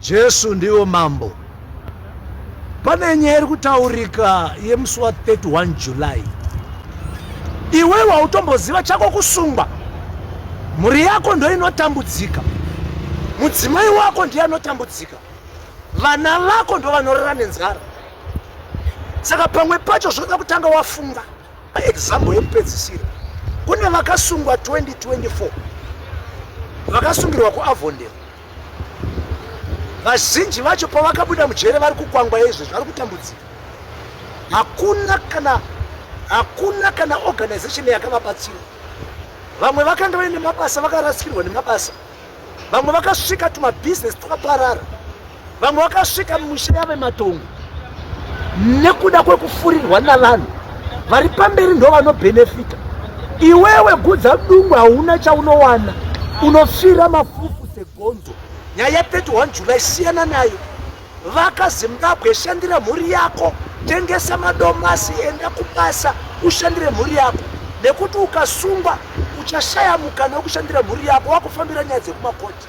Jesu ndivo mambo. Pane nyaya iri kutaurika yemusi wa 31 July. Iwe wautomboziva chako kusungwa. Mhuri yako ndoinotambudzika. Mudzimai wako ndiye anotambudzika. Vana vako ndovanorara nenzara. Saka pamwe pacho zvoda kutanga wafunga example yekupedzisira. Kune vakasungwa 2024 vakasungirwa kuAvondale vazhinji vacho pavakabuda mujere vari kukwangwa yeizvezvi vari kutambudzika hakuna kana hakuna kana organization yakavabatsira vamwe vakanga vaine mabasa vakarasikirwa nemabasa vamwe vakasvika tumabhizinesi twakaparara Vamwe vakasvika mumisha yavematongo nekuda kwekufurirwa navanhu vari pamberi ndo vanobhenefita. Iwewe gudza dungu hauna chaunowana, unofira mafufu segonzo. Nyaya ya 31 July siyana nayo. Vaka Zimbabwe, shandira mhuri yako, tengesa madomasi, enda kubasa ushandire mhuri yako, nekuti ukasungwa uchashaya mukana wekushandira mhuri yako wakufambira nyaya dzekumakoti.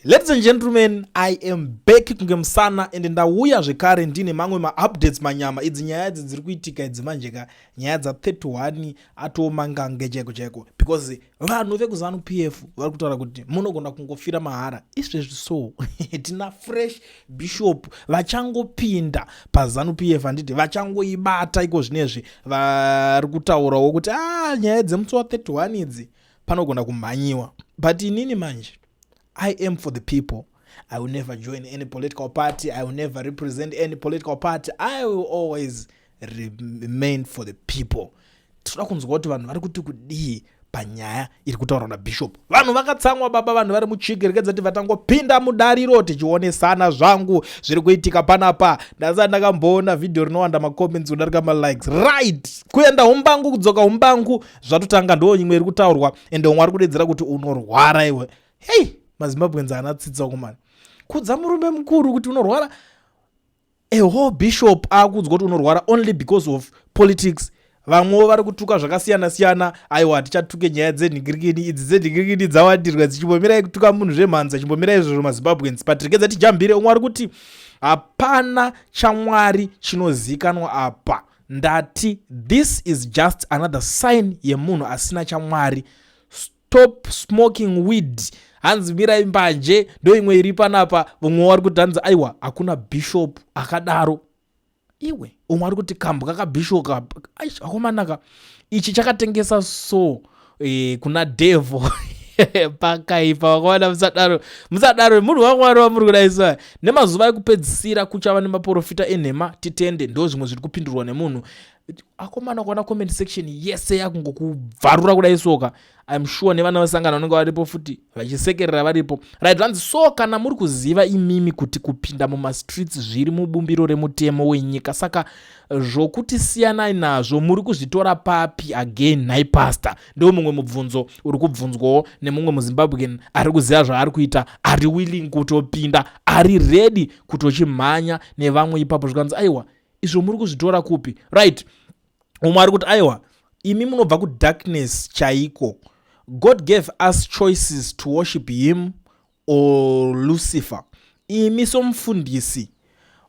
Ladies and gentlemen, I am back kunge musana and ndauya zvekare ndine mamwe maupdates manyama idzi nyaya idzi dziri kuitika idzi manje ka nyaya dza 31 atooma ngange chaiko chaiko because vanhu vekuzanu PF vari kutaura kuti munogona kungofira mahara izvezvi so tina fresh bishop vachangopinda pazanu PF handiti vachangoibata iko zvinezvi vari kutaurawo kuti ah nyaya dzemusi wa 31 idzi panogona kumhanyiwa but inini manje i am for the people i will never join any political party i will never represent any political party i will always remain for the people tinoda kunzwa kuti vanhu vari kuti kudii panyaya iri kutaurwa nabishop vanhu vakatsamwa baba vanhu vari muchiki rekedza ti vatangopinda mudariro tichionesana zvangu zviri kuitika panapa ndasati ndakamboona vhidhiyo rinowanda macomments kudarika malikes right kuenda umbangu kudzoka umbangu zvatotanga ndo nyimwe iri kutaurwa ende umwe ari kudedzera kuti unorwara iwe hei mazimbabwenzi ana tsitsa kumani kudza murume mukuru kuti unorwara a whole bishop akuudzwa kuti unorwara only because of politics vamwewo vari kutuka zvakasiyana siyana aiwa hatichatuke nyaya dzenhingirikini idzi dzenhingirikini dzawandirwa dzichimbomirai kutuka munhu zvemhanza chimbomirai izvozvo mazimbabweans but regedza tijambire umwe ari kuti hapana chamwari chinozikanwa apa ndati this is just another sign yemunhu asina chamwari stop smoking weed hanzi mirai mbanje ndo imwe iri panapa vamwe wari kuti hanzi aiwa hakuna bishop akadaro iwe umwe ari kuti kambwa kabishop akomanaka ichi chakatengesa so e, kuna devil pakaipa wakawana musadaro musadaro munhu wamwari wamuri kudaisa nemazuva ekupedzisira kuchava nemaporofita enhema titende ndo zvimwe zviri kupindurwa nemunhu akomana kuona comment section yese yakungokubvarura kudai soka im sure nevana vesangano vanenge varipo futi vachisekerera varipo right vanzi so kana muri kuziva imimi kuti kupinda mumastreets zviri mubumbiro remutemo wenyika saka zvokuti siyanai nazvo muri kuzvitora papi again nhai pastor ndiwo mumwe mubvunzo uri kubvunzwawo nemumwe muzimbabwean ari kuziva zvaari kuita ari willing kutopinda ari ready kutochimhanya nevamwe ipapo zvikanzi aiwa izvo muri kuzvitora kupi right umwe ari kuti aiwa imi munobva kudarkness chaiko god gave us choices to worship him or lucifer imi somufundisi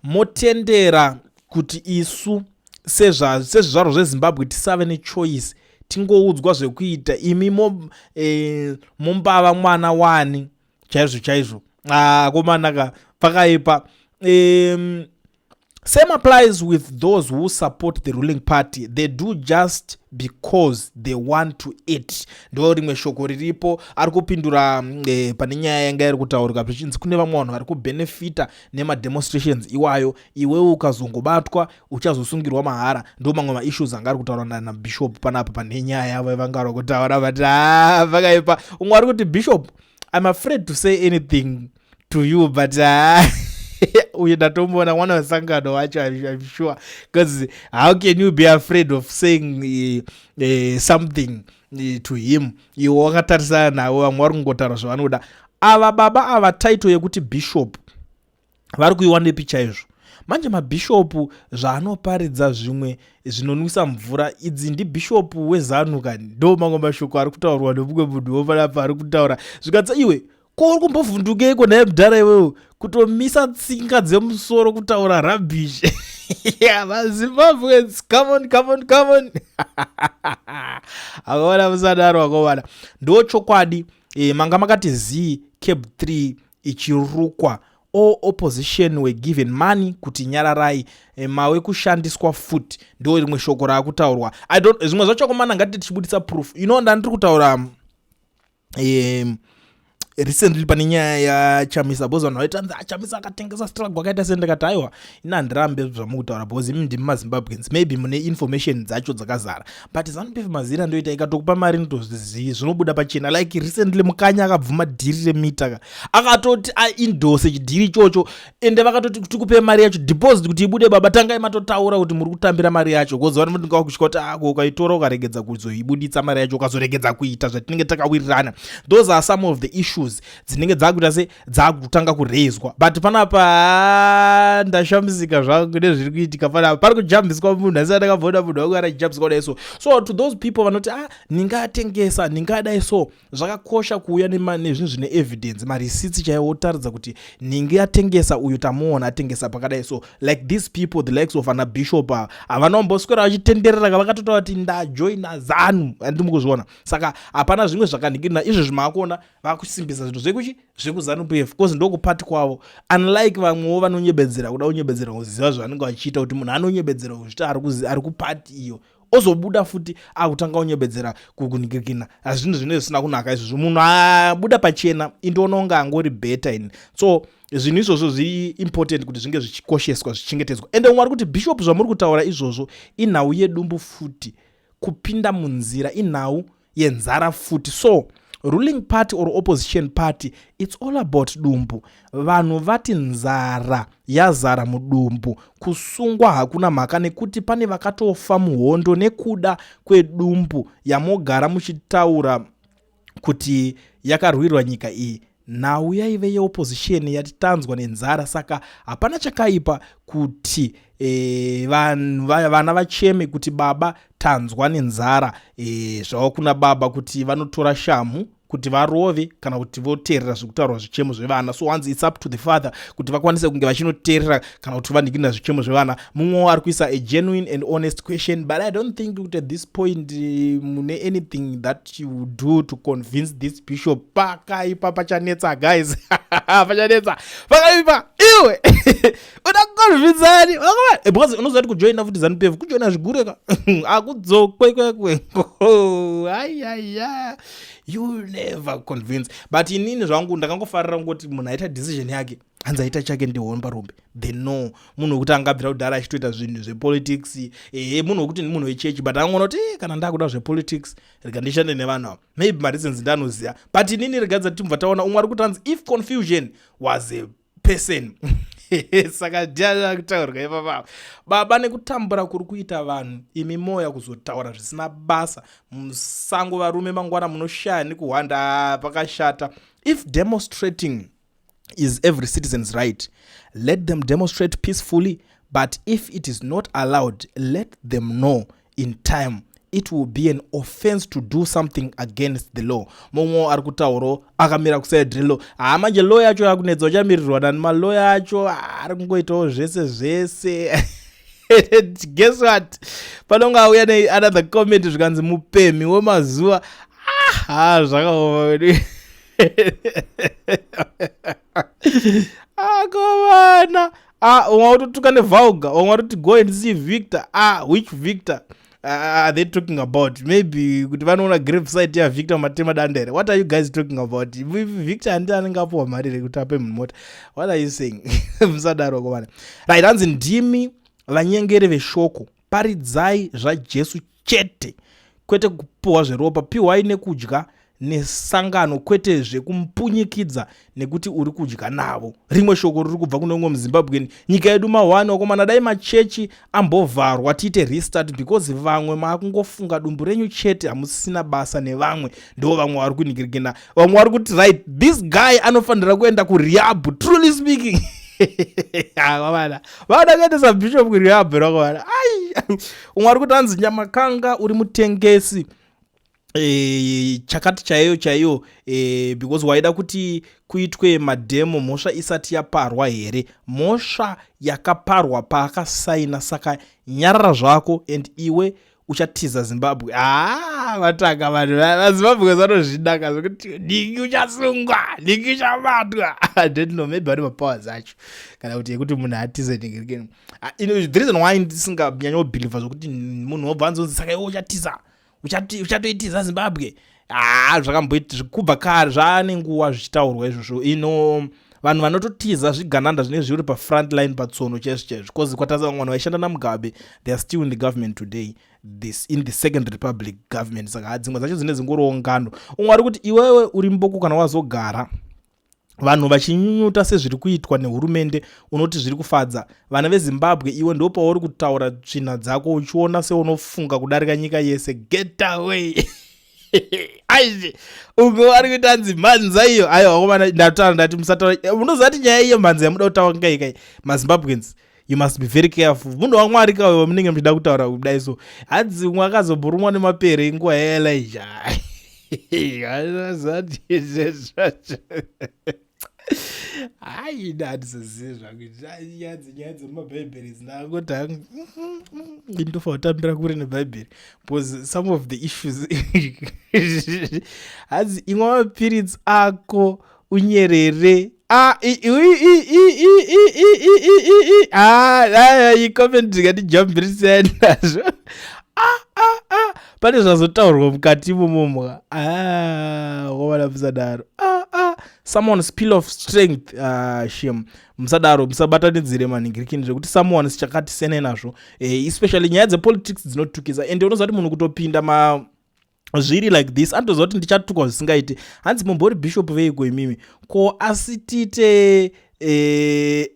motendera kuti isu sezvizvarwo zvezimbabwe tisave nechoice tingoudzwa zvekuita imi mo, e, mombava mwana wani chaizvo chaizvo akomanaka ah, pakaipa e, Same applies with those who support the ruling party they do just because they want to eat ndo rimwe shoko riripo ari kupindura mm, eh, pane nyaya yanga iri kutaurika zvichinzi kune vamwe vanhu vari kubenefita nemademonstrations iwayo iwewo ukazongobatwa uchazosungirwa mahara ndo mamwe maissues anga ari kutaura nanabishop panapa pane nyaya yavo vanga vari kutaura vati ah, vakaipa umwe ari kuti bishop i'm afraid to say anything to you but uh, uye ndatomboona mwana wesangano wacho im sure because how can you be afraid of saying uh, uh, something uh, to him iwe wakatarisana navo vamwe vari kungotaura zvavanoda ava baba ava title yekuti bishop vari kuiwanepi chaizvo manje mabhishopu zvaanoparidza zvimwe zvinonwisa mvura idzi ndibhishopu wezanu kani ndo mamwe mashoko ari kutaurwa nemumwe munhu wopanapa ari kutaura zvikatsa iwe ko uri kumbovhundukeiko naye mudhara iwewe kutomisa tsinga dzemusoro kutaura rubbish yeah mazimbabweans come on come on come on akaona musadaro akovana ndo chokwadi e, manga makati zii cab 3 ichirukwa all opposition were given money kuti nyararai e, mawe kushandiswa fut ndo rimwe shoko raakutaurwa zvimwe zvacho komana ngatiti tichibudisa proof ino ndandiri kutaura um recently pane nyaya yachamisa bcause vanhu vaitanzi achamisa ah, akatengesa struggle akaita se ndikati aiwa ini handirambe zvamukutaura bcause imi ndimi mazimbabweans maybe mune information dzacho dzakazara but zanupf mazira ndoita ikatokupa mari notozvizivi zvinobuda pachena like recently mukanya akabvuma dhiri remita ka akatoti aindose chidhiri ichocho ende vakatoti tikupe mari yacho deposit kuti ibude baba tangai matotaura kuti muri kutambira mari yacho kozi vanotinga wakusvika kuti ako ah, ukaitora ukaregedza kuzoibuditsa mari yacho ukazoregedza kuita zvatinenge takawirirana those are some of the issues dzinenge dzakuita se dzakutanga kuraiswa but panapa ah, ndashamisika zvangu nezviri kuitika panapa pari kujambiswa munhu asi andakavona munhu wangu arajambiswa kudai so so to those people vanoti a ah, ndingatengesa ndingadai so zvakakosha kuuya nezvinhu zvine evidence marisitsi chaiwo otaridza kuti nhingi atengesa uyu tamuona atengesa pakadai so like these people the likes of ana bishop ava havana kumboswera vachitenderera ka vakatotaura kuti ndajoina zanu andiri mukuzviona saka hapana zvimwe zvakanhikirina izvo zvimakuona vakusimbisa zvinhu zvekuchi zvekuzanu p f because ndokupati kwavo unlike vamwewo vanonyebedzera kuda kunyebedzera kuziva zvavanenge vachiita kuti munhu anonyebedzera kuzvita ari kupati iyo ozobuda futi akutanga unyebedzera kukunikikina hazvinhu zvine zvisina kunaka izvozvo munhu abuda pachena indiona unge angori beta ini so zvinhu izvozvo zviimportant kuti zvinge zvichikosheswa zvichengetedzwa ende umwe ari kuti bishop zvamuri kutaura izvozvo inhau yedumbu futi kupinda munzira inhau yenzara futi so ruling party or opposition party its all about dumbu vanhu vati nzara yazara mudumbu kusungwa hakuna mhaka nekuti pane vakatofa muhondo nekuda kwedumbu yamogara muchitaura kuti yakarwirwa nyika iyi Nhau yaive yeopozisheni yati tanzwa nenzara saka hapana chakaipa kuti e, vanhu vana vacheme kuti baba tanzwa nenzara e, zvava kuna baba kuti vanotora shamhu kuti varove kana kuti voteerera zviri kutaurwa zvichemo zvevana so hanzi its up to the father kuti vakwanise kunge vachinoteerera kana kuti vandikinira zvichemo zvevana mumwe wo ari kuisa a genuine and honest question but i don't think kuti at this point eh, mune anything that you do to convince this bishop pakaipa pachanetsa guys pachanetsa pakaipa iwe uda kuconvinsani eh, because unoziva kuti kujoina futi zanupf kujoina zvigure ka akudzokwe kwekwe ayaya you never convince but inini zvangu ndakangofarira kungoti munhu aita decision yake hanzi aita chake ndihomba rumbe the no munhu wekuti angabvira kudhara achitoita zvinhu zvepolitics ehe munhu wekuti ndimunhu wechechi but angoona kuti eh, kana ndakuda zvepolitics rega ndishande nevanhu ava maybe mareasons ndanoziva but inini rega dzati timubva taona umwe ari kuti hanzi if confusion was a person saka ndiaa kutaurwa ipapapa baba nekutambura kuri kuita vanhu imi moya kuzotaura zvisina basa musango varume mangwana munoshaya nekuhwanda pakashata if demonstrating is every citizen's right let them demonstrate peacefully but if it is not allowed let them know in time it will be an offense to do something against the law mumwe ari kutauro akamira kuside relo haa ah, manje loya acho akunetsa uchamirirwa nani maloya acho ah, ari kungoitawo zvese zvese guess what panonge auya neanother comment zvikanzi mupemhi wemazuva aha zvakaoma wedu akovana ah, umwe watotuka nevulga umwe watoti go and see victor ah, which victor are ah, ah, they talking about maybe kuti vanoona grave site ya victor matema danda here what are you guys talking about victor handi anenge apuwa mari rekuti ape munhu mota what are you saying musadaro kovana right hanzi ndimi vanyengeri veshoko paridzai zvajesu chete kwete kupiwa zveropa piwai nekudya nesangano kwete zvekumpunyikidza nekuti uri kudya navo rimwe shoko riri kubva kune umwe muzimbabweni nyika yedu mahwani wakomana dai machechi ambovharwa tiite restart because vamwe maakungofunga dumbu renyu chete hamusisina basa nevamwe ndo vamwe vari kunigirigina vamwe vari kuti right this guy anofanira kuenda kuriabu truly speaking vana vana kuendesa bishop kuriabu rakovana ai umwe ari kuti hanzi nyamakanga uri mutengesi e, chakati chaiyo chaiyo e, because waida kuti kuitwe madhemo mhosva isati yaparwa here mhosva yakaparwa paakasaina saka nyarara zvako and iwe uchatiza zimbabwe haa vatanga vanhu vazimbabwe vanozvidaka zvekuti dingi uchasungwa dingi uchabatwa didno maybe vane mapowers acho kana kuti yekuti munhu atize dingi rikeni Ah, you know, the reason why ndisinganyanyobhilivha zvokuti munhu wobva anzonzi saka iwe uchatiza uchatoitiza zimbabwe haa ah, zvakamboita zvekubva kare zvaane nguva zvichitaurwa izvozvo ino vanhu vanototiza zvigananda zvinenge zviri pafront line patsono chaizvo chaizvo because kwatasa vamwe vanhu vaishanda namugabe they are still in the government today this in the second republic government saka dzimwe dzacho dzine dzingoriwo ngano umwe ari kuti iwewe uri mboko kana wazogara vanhu vachinyunyuta sezviri kuitwa nehurumende unoti zviri kufadza vana vezimbabwe iwe ndo pauri kutaura tsvina dzako uchiona seunofunga kudarika nyika yese getaway aizve umwe wari kuita hanzi mhanza iyo ayo akomana ndataura ndati musataura eh, unoziva ti nyaya iyo mhanza yamuda kutaura ngaikai mazimbabweans you must be very careful munhu wamwari kawe vamunenge muchida kutaura kudai so hanzi umwe akazobhurumwa nemapere inguva yaelija haida handizozive zvakuitanyanzi nyaya dzemumabhaibheri dzinangoti indofa kutambira kure nebhaibheri because some of the issues hanzi imwe mapiritsi ako unyerere ah, icomment ndikatijambirisa nazvo ah, ah, ah. pane zvazotaurwa mukati momomwa ah, wavana musadaro ah, ah. someone spill of strength ah, shem musadaro musabatanidzire manhingirikini zvekuti someone sichakati sene nazvo eh, especially nyaya dzepolitics dzinotukisa ende unozati munhu kutopinda ma zviri like this andoziva kuti ndichatukwa zvisingaiti hanzi mumbori bishop veiko imimi ko asi tiite eh,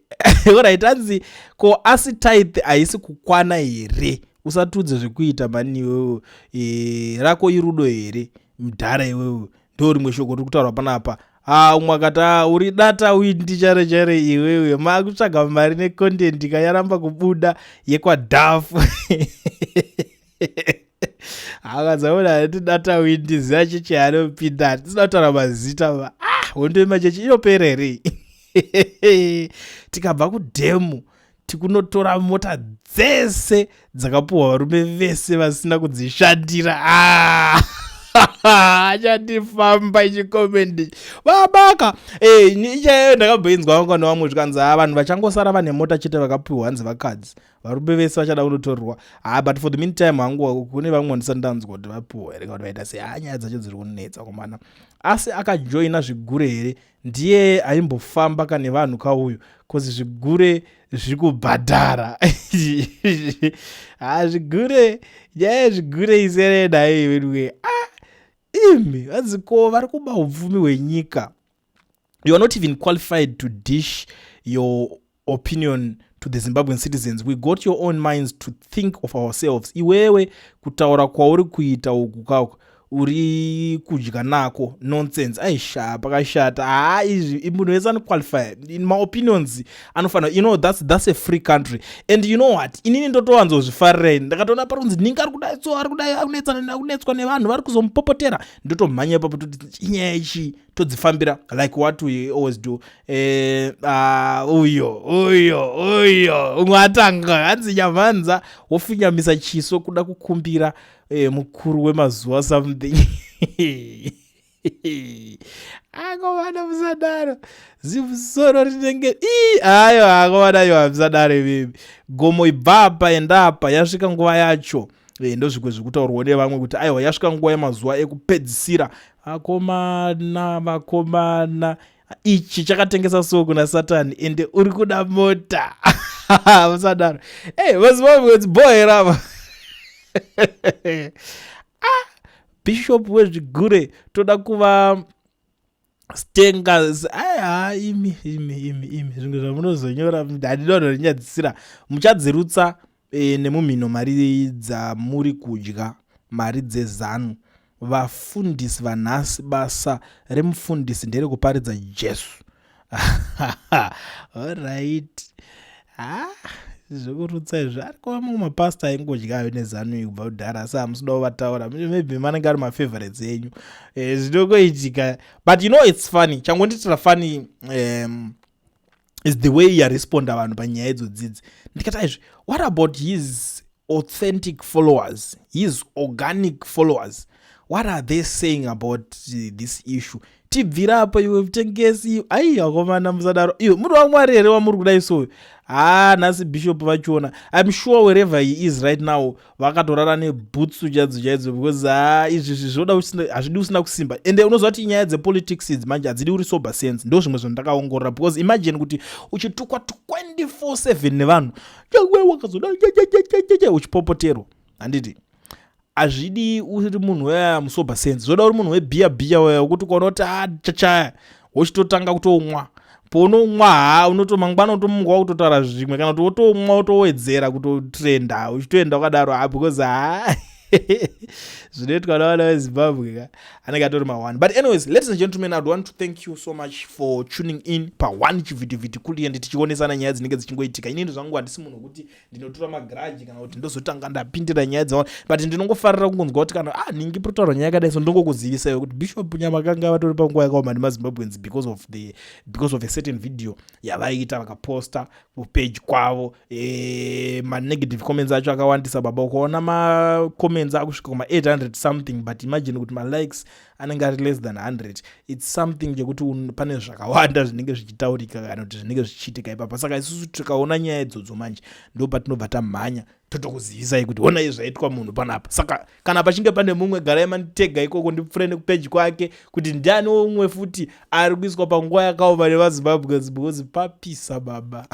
orit hanzi ko asi tithe haisi kukwana here usatiudze zvekuita mani iwewo eh, rako irudo here mdhara iwewo ndo rimwe shoko riri kutaurwa panapa ha umwe akati a uri data uyi ndichare chare iwewe maakutsvaga mari necontent kayaramba kubuda yekwadhafu akadzaona hati data windi ziva chechi anopinda hati tisina kutaura mazita va ah hondo yemachechi inopera here tikabva kudhemu tikunotora mota dzese dzakapuhwa varume vese vasina kudzishandira ah! achandifamba ichikomendi vabaka eh, ichayo ndakabhoinzwa vangwana vamwe zvikanzi ha ah, vanhu vachangosara vane mota chete vakapiwa hanzi vakadzi varume vese vachada kunotorerwa ha but for the mean time hangu kune vamwe vandisati ndanzwa kuti vapiwa here kakuti vaita sei ha nyaya dzacho dziri kunetsa komana asi akajoina zvigure here ndiye aimbofamba kane vanhu kauyu bcause zvigure zviri kubhadhara ha zvigure nyaya yezvigure iserenaiwe ah, imi vadziko vari kuba upfumi hwenyika you are not even qualified to dish your opinion to the zimbabwean citizens we got your own minds to think of ourselves iwewe kutaura kwauri kuita uku kako uri kudya nako nonsense aisha pakashata haa izvi munhu wese anoqualify in my opinions anofanira you know that's, that's a free country and you know what inini ndotowanzozvifarira ini ndakatoona parunzi ningi ari kudai so ari kudai akunetswa nevanhu vari kuzomupopotera ndotomhanya ipapo toti inyaya ichii todzifambira like what we always do eh, ah, uyo uyo uyo umwe atanga hanzi nyamhanza wofinyamisa chiso kuda kukumbira eh, mukuru wemazuva something akomana musadaro zimusoro rinenge i ayo akomana yo hamusadaro imimi gomo ibvapa endapa yasvika nguva yacho e, ndozvimwe zvekutaurwa nevamwe kuti aiwa yasvika nguva yemazuva ekupedzisira akomana vakomana ichi chakatengesa so kuna satani ende uri kuda mota vasadaro ey hey, vazimbabwedzi boe rava ah, bishop wezvigure toda kuva stengas aya imi imi imi imi zvimwe zvamunozonyora handinoda rinyadzisira muchadzirutsa e, nemumhino mari dzamuri kudya mari dzezanu vafundisi vanhasi basa remufundisi nderekuparidza jesu orit ah, zvekurutsa izvo ariko vamwe mapasta aingodya ayo nezanu ikubva kudhara asi hamusidawo vataura maybe manenge ari mafavorites enyu eh, zvinokoitika but you know its funny changondiitira funny um, is the way yaresponda vanhu panyaya idzo dzidzi ndikati aizvi what about his authentic followers his organic followers what are they saying about this issue tibvira apo iwe mutengesi iyo ai akomana musadaro iyo muri wamwari here wamuri kudai soyo haa nhasi bishop vachiona im sure wherever he is right now vakatorara nebhutsu chaidzo chaidzo because ha ah, izvi zvoda hazvidi usina kusimba ende unoziva kuti nyaya dzepolitics idzi manje hadzidi uri sober sense ndo zvimwe zvinhu ndakaongorora because imagine kuti uchitukwa 24/7 nevanhu chawe wakazoda uchipopoterwa handiti hazvidi uri munhu weya musober sense zvoda uri munhu webhiya bhiya weya wokuti ukaona kuti ha ah, chachaya wochitotanga kutomwa pounomwa ha unoto mangwana utomuka wakutotaura zvimwe kana kuti wotomwa wotowedzera kutotrenda uchitoenda wakadaro ha because ha zvinoitwa navana vezimbabwe ka anenge atori maone but anyways ladies and gentlemen i'd want to thank you so much for tuning in paone chivhitivhiti kuliende tichionesana nyaya dzinenge dzichingoitika inini zvangu handisi munhu wekuti ndinotura magaraji kana kuti ndozotanga ndapindira nyaya dzaona but ndinongofarira kungonzwa kuti kana ah ningi protaura nyaya yakadai so ndongokuzivisaiwo kuti bishop nyamakanga vatori panguva yakaoma nemazimbabweans because of the because of a certain video yavaiita vakaposta kupage kwavo e, manegative comments acho akawandisa baba ukaona macomments akusvika kuma 800 something but imagine kuti malikes anenge ari less than 100 its something chekuti pane zvakawanda zvinenge zvichitaurika kana kuti zvinenge zvichiitika ipapa saka isusu tikaona nyaya idzodzo manje ndo patinobva tamhanya totokuzivisai kuti honai zvaitwa munhu panapa saka kana pachinge pane mumwe garai manitega ikoko ndipfure nekupeji kwake kuti ndiani umwe futi ari kuiswa panguva yakaoma nevazimbabweans because papisa baba